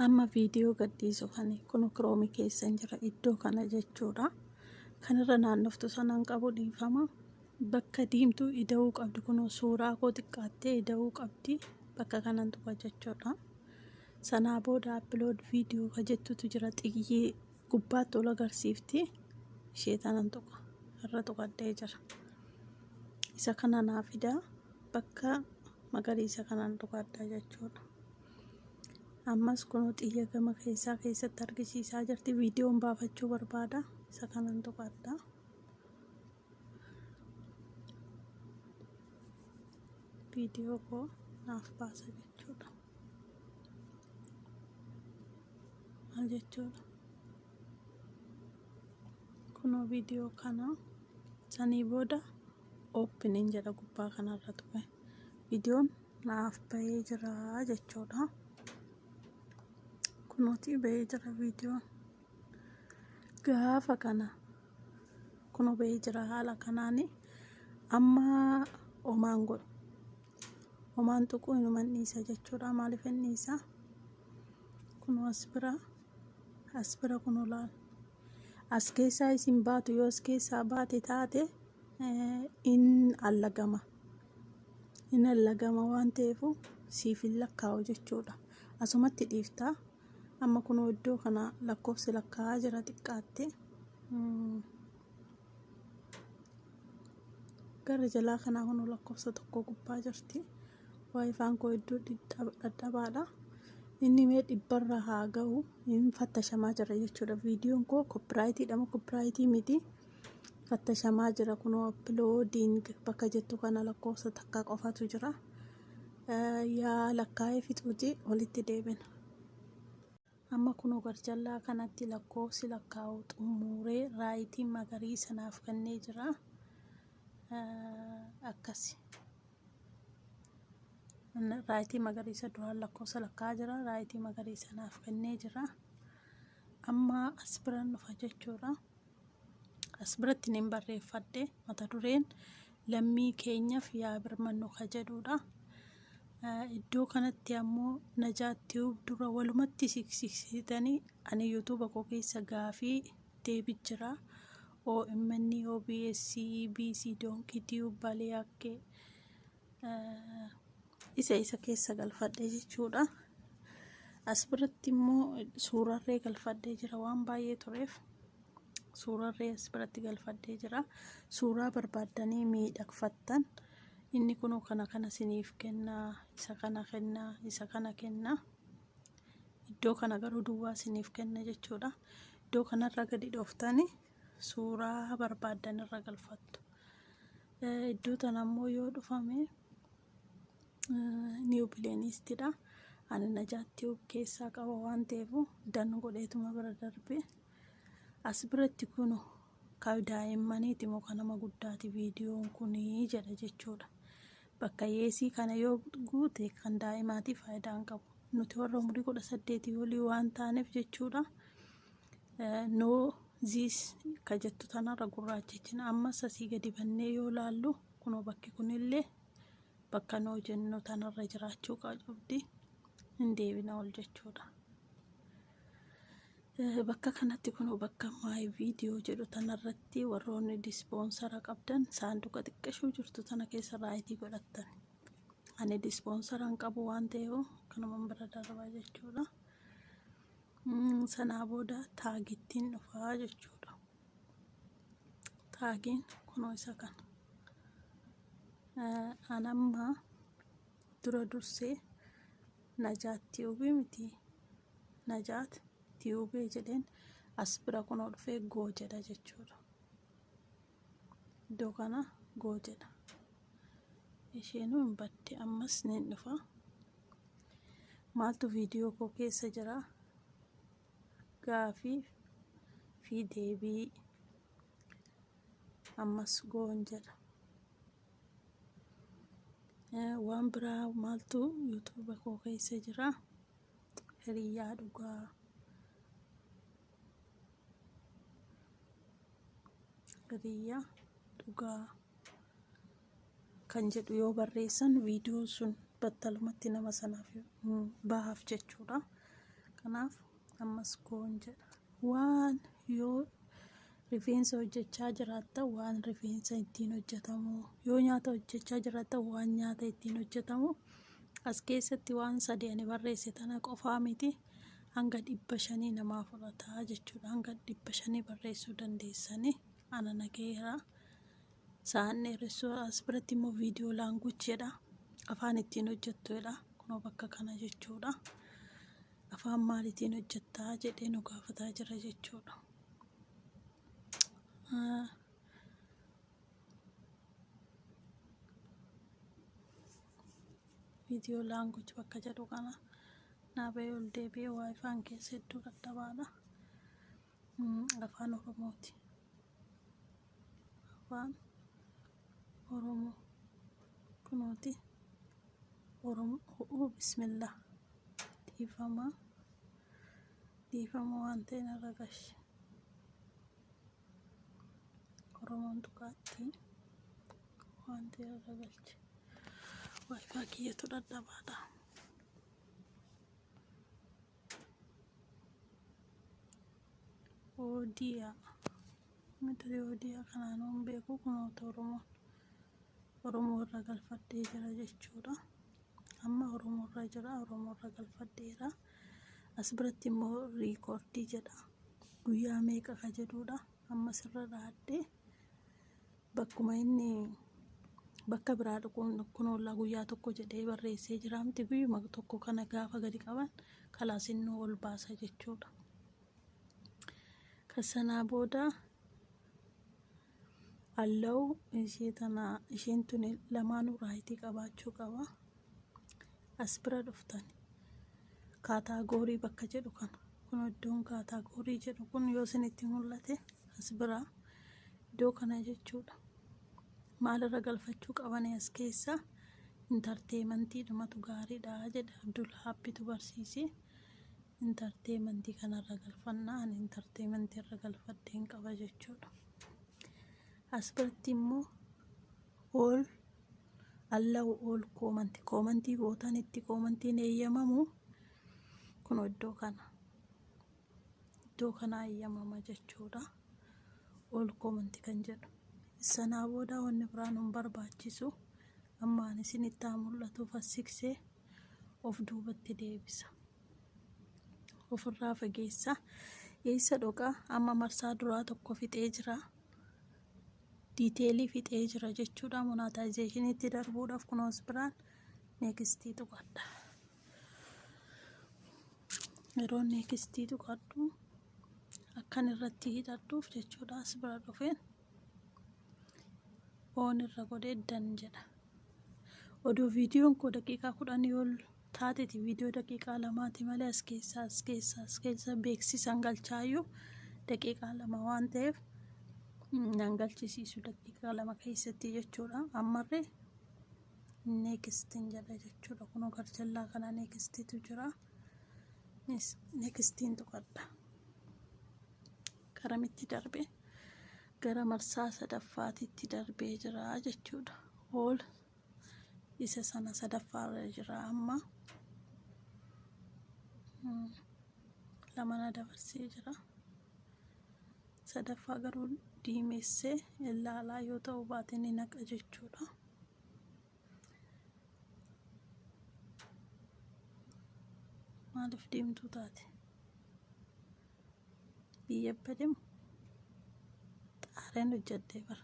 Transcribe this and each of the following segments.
amma viidiyoo gadhiisu kan kun kiroomi keessa hin jira iddoo kana jechuudha kanirra naannoftu sanaan qabu dhiifama bakka diimtuu ida'uu qabdi kun suuraa koo xiqqaattee ida'uu qabdi bakka kanan tuqa jechuudha sanaa booda appilood viidiyoo ka jettutu jira xiyyee gubbaatti ol agarsiifti ishee tanan tuqa irra tuqadhee jira isa kana naa fida bakka magariisa kanaan tuqadha jechuudha ammas kun xiyya gama keessaa keessatti argisiisaa jirti viidiyoon baafachuu barbaada isa kanaan tuqadha viidiyoo koo naaf baasa jechuudha maal jechuudha kunoo viidiyoo kana sanii booda oopiniin jedha gubbaa kanarra ture viidiyoon naaf bahee jira jechuudha kunooti bahee jira viidiyoon gaafa kana kunoo bahee jira haala kanaani amma omaan godhu homaan tuquu inuman dhiisa jechuudha maaliif hin dhiisa kunoo as bira as bira kunoo laal as keessaa isin baatu yoo as keessaa baate taate eh, in allagama in allagama waan ta'eefu siif hin lakkaa'u jechuudha asumatti dhiiftaa amma kunoo iddoo kana lakkoofsi lakkaa'aa jira xiqqaatte Mm. gara jalaa kanaa kun lakkoofsa tokko gubbaa jirti waayifaan koo iddoo dhadhabaadha inni mee dhibbarra haa ga'u hin fattashamaa jira jechuudha viidiyoon koo koppiraayitii dhama koppiraayitii miti fattashamaa jira kunoo appiloodiing bakka jettu kana lakkoofsa takka qofatu jira yaa lakkaa'ee fixuuti walitti deebina. Amma kunoo garjallaa kanatti lakkoofsi lakkaa'uu xummuuree raayitii magariisa naaf kennee jira. Akkasi. Raayitii magariisa duraan lakkoofsa lakkaa'aa jira. Raayitii magariisa naaf kennee jira. Amma as biran dhufa jechuudha. As biratti nin barreeffadhe mata dureen lammii keenyaf yaa birmannu ka jedhuudha. Iddoo kanatti ammoo Najaat Tube dura walumatti siksiksitanii ani YouTube koo keessa gaafii deebi jira. OMN, OBS, EBC, Donkey Tube, Baleakke isa isa keessa galfadhe jechuudha as biratti immoo suurarree galfadhee jira waan baay'ee tureef suurarree as biratti galfadhee jira suuraa barbaaddanii miidhagfattan inni kun kana kana siniif kennaa isa kana kennaa isa kana kennaa iddoo kana garuu duwwaa siniif kenna jechuudha iddoo kanarra gadi dhooftanii suuraa barbaaddan irra galfattu Iddoo tana immoo yoo dhufame niiw pileeniistidha. Ani najaatti of keessaa qaba waan ta'eef dan godheetuma bira darbe. As biratti kun ka daa'immaniiti moo ka nama guddaati viidiyoon kun jedha jechuudha. Bakka yeesii kana yoo guute kan daa'imaatiif faayidaa hin qabu. Nuti warra umurii kudha saddeetii olii waan taaneef jechuudha. no ziis ka jettu tanarra gurraachechina ammas asii gadi bannee yoo laallu kunoo bakki kunillee bakka noo jennu tanarra jiraachuu qabdi hin deebina ol jechuudha. Bakka kanatti kunoo bakka maay viidiyoo jedhu tanarratti warroonni dispoonsara qabdan saanduqa xiqqashuu jirtu tana keessa raayitii godhattan. Ani dispoonsara hin qabu waan ta'eef kanuman bira darbaa jechuudha. Sanaa booda taagittiin dhufaa jechuudha. Taagiin kunoo isa kana. An amma dura dursee najaat tiyuubii miti najaat tiyuubee jedheen as bira kunoo dhufee goo jedha jechuudha. iddoo kana goo jedha isheenuu hin badde ammas ni dhufa maaltu viidiyoo koo keessa jira gaafii fi deebii ammas goon jedha waan biraa maaltu yuutuuba koo keessa jira hiriyyaa dhugaa hiriyya dhugaa kan jedhu yoo barreessan viidiyoon sun battalumatti nama sanaaf bahaaf jechuudha kanaaf ammas koon jedha waan yoo rifeensa hojjechaa jiraatta waan rifeensa ittiin hojjetamu yoo nyaata hojjechaa jiraatta waan nyaata ittiin hojjetamu as keessatti waan sadii ani barreesse tana qofaa miti hanga dhibba shanii namaa fudhataa jechuudha hanga dhibba shanii barreessuu dandeessanii ana nagaheera sa'aan dheeressuu as biratti immoo viidiyoo laanguuj jedha afaan ittiin hojjettuudha kunoo bakka kana jechuudha afaan maaliitiin hojjettaa jedhee nu gaafataa jira jechuudha. viidiyoo laanguuj bakka jedhu kana Naa bahee ol deebi'ee waayifaan keessa hedduu dadhabaadha. Afaan Oromooti. Afaan Oromoo. Kunooti. Oromoo bismillah. Dhiifamaa. Dhiifama waan ta'e narra gashi. Oromoon tuqaatti waan ta'e irra galche. Waayifaa kiyyatu dadhabaadha. Oodiyaa. Mata duree oodiyaa kanaan waan beeku kunoota Oromoon Oromoo irra galfadhee jira jechuudha. Amma Oromoo irra jira, Oromoo irra galfadheera. As biratti immoo riikoordii jedha. Guyyaa meeqa ka jedhuudha. Amma sirra dhaadhee Bakkuma inni bakka biraa dhuquun kun ollaa guyyaa tokko jedhee barreessee jiraamti guyyuma tokko kana gaafa gadi qaban kalaas innuu ol baasa jechuudha. Kan sanaa booda allow ishee tana isheen tuni lamaanuu raayitii qabaachuu qaba. as bira dhuftan kaataagoorii bakka jedhu kana kun iddoon kaataagoorii jedhu kun yoo isinitti mul'ate as bira iddoo kana jechuudha maalirra galfachuu qabanii as keessa intarteemantii dhumatu gaariidha jedha abdul haabbitu barsiise intarteemantii kanarra galfannaa ani intarteemantii irra galfadheen qaba jechuudha as biratti immoo All allow all comment koomantii gootan itti koomantiin eeyyamamu kun iddoo kana iddoo kana eeyyamama jechuudha all comment kan jedhu sanaa booda wanni biraan hin barbaachisu ammaan isin itti haa mul'atu fassiksee of duubatti deebisa ofirraa fageessa eessa dhoqa amma marsaa duraa tokko fixee jira detail fixee jira jechuudha monetization itti darbuudhaaf kunoos biraan next tuqadha yeroo next tuqadhu akkan irratti hidhadhuuf jechuudha as bira dhufeen oon irra godhee dan jedha odoo viidiyoon koo daqiiqaa kudhanii ol taateti video daqiiqaa lamaati malee as keessa as keessa as keessa beeksisan galchaayyu daqiiqaa lama waan ta'eef nan galchisiisu daqiiqaa lama keessatti jechuudha ammarre neekistiin jedha jechuudha kunoo garjallaa kana neekistiitu jira neekistiin tuqadha garamitti darbe gara marsaa sadaffaatitti darbee jira jechuudha hool isa sana sadaffaa irra jira amma Hmm. lama na dabarsee jira sadaffaa garuu diimessee ilaalaa yoo ta'u baate ni naqa jechuudha maaliif deemtuu taate biyya bademu xaareen hojjedhee bara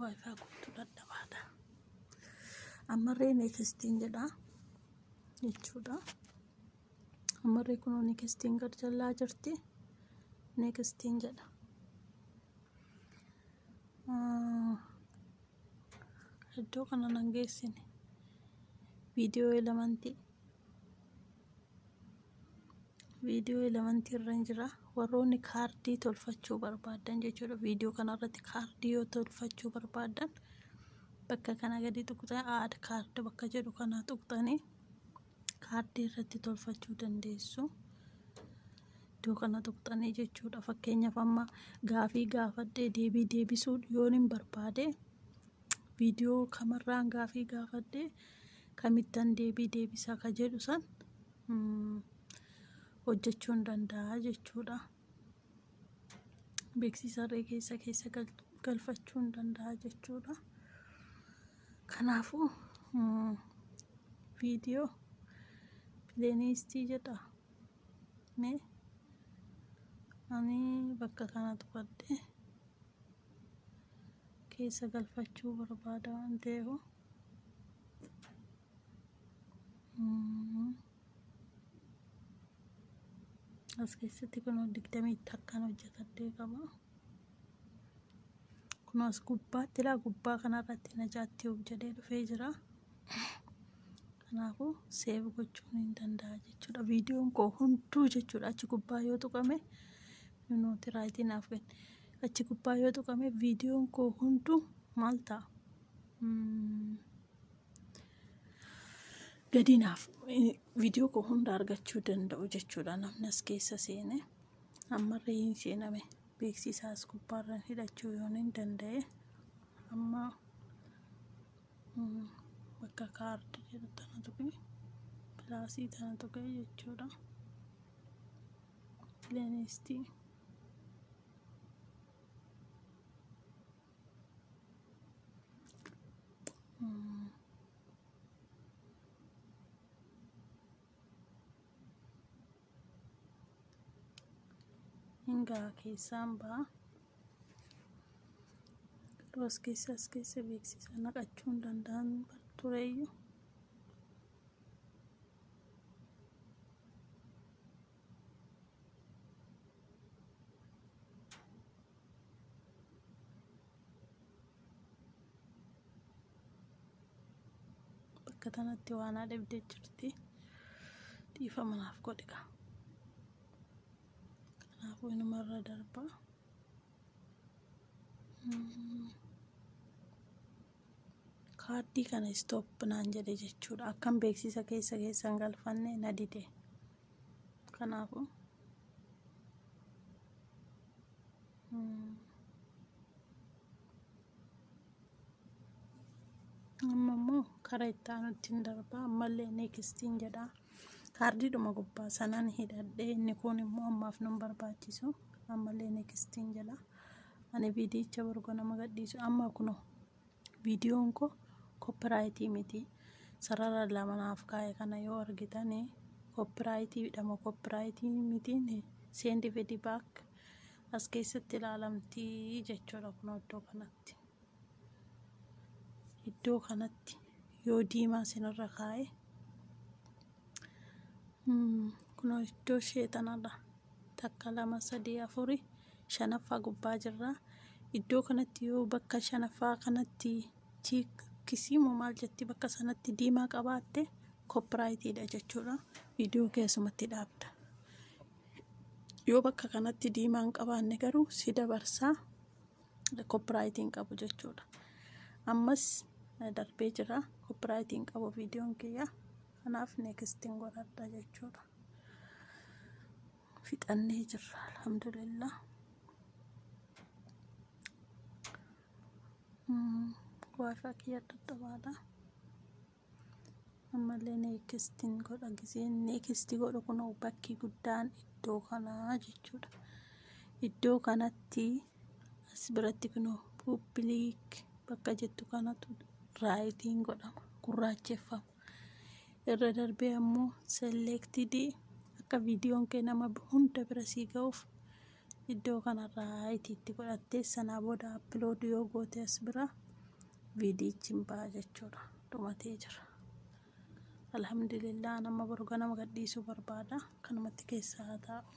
Wi-Fi kootu dadhabaadha. Ammarree neekistiin jedha jechuudha. Ammarree kunoo neekistiin gad jallaa jirti. Neekistiin jedha. Iddoo kana nan geessine. Viidiyoo elementii. viidiyoo elementii irra hin jira warroonni kaardii tolfachuu barbaadan jechuudha viidiyoo kanarratti kaardii yoo tolfachuu barbaadan bakka kana gadi tuqxan aad kaard bakka jedhu kana tuqxanii kaardii irratti tolfachuu dandeessu iddoo kana tuqxanii jechuudha fakkeenyaaf amma gaafii gaafadhee deebii deebisuu yoon hin barbaade viidiyoo kamarraan gaafii gaafadhee kamittan deebii deebisa ka jedhu san hojjechuun danda'a jechuudha. Beeksisa har'ee keessa keessa galfachuun danda'a jechuudha. Kanaafuu viidiyoo pileenistii jedha mee ani bakka kana tuqadhee keessa galfachuu barbaada waan ta'eef. as keessatti kunoo digdamii takkaan hojjetadhee qaba kunoo as gubbaatti ilaa gubbaa kanarratti najaatti of jedhee dhufee jira kanaafuu seev gochuun hin danda'a jechuudha viidiyoon koo hunduu jechuudha achi gubbaa yoo tuqame nuti raayitii naaf kenne achi gubbaa yoo tuqame viidiyoon koo hunduu maal ta'a gadinaaf viidiyoo koo hunda argachuu danda'u jechuudha namni as keessa seene ammarree hin seename beeksisaa as gubbaarran hidhachuu yoon hin danda'e amma bakka kaardi jedhu tana tuqee pilaasii tana tuqee jechuudha pileeniistii hingaa keessaan ba'a garuu as keessa as keessa beeksisa naqachuu hin danda'an tureeyyu bakka tanatti waanaa dhabdee jirti dhiifa manaaf godhiga kanaafuu inumarra darba kaardii kana istoop naan jedhe jechuudha akkan beeksisa keessa keessan galfanne na dide Kanaafuu amma immoo kara itti aanutti hin darbaa ammallee neekistiin jedha kaardiidhuma gubbaa sanaan hidhadhee inni kun immoo ammaaf nun barbaachisu ammallee neekistiin jedha ani viidiyicha borgo nama gadhiisu amma kunoo Viidiyoon koo koppiraayitii miti. Sarara lama naaf kaa'e kana yoo argitan koppiraayitiidha moo koppiraayitii mitiin seendi fidi baak as keessatti ilaalamti jechuudha kun iddoo kanatti. Iddoo kanatti yoo diimaa sinirra kaa'e Kunoo iddoo ishee tanadha. Takka, lama, sadii, afuri, shanaffaa gubbaa jirra. Iddoo kanatti yoo bakka shanaffaa kanatti chiikkisii moo maal jetti bakka sanatti diimaa qabaatte koppiraayitiidha jechuudha. Viidiyoo kee asumatti dhaabda. Yoo bakka kanatti diimaa hin qabaanne garuu si dabarsaa koppiraayitiin qabu jechuudha ammas darbee jira koppiraayitiin qabu viidiyoon kiyya kanaaf neekistiin godhadha jechuudha fixannee jirra alhamdulillah warra kiyya dadhabaadha ammallee neekistiin godha giseen neekistii godhu kun bakki guddaan iddoo kanaa jechuudha iddoo kanatti as biratti kun pupiliik bakka jettu kanatu raayitiin godhama gurraacheffama irra darbee ammoo selleektidii akka viidiyoon kee nama hunda bira sii ga'uuf iddoo kanarraa itti itti godhattee sanaa booda upload yoo goote as bira viidiyichi hin ba'a jechuudha dhumatee jira alhamdulillah nama boru ganama gadhiisuu barbaada kanumatti keessaa haa taa'u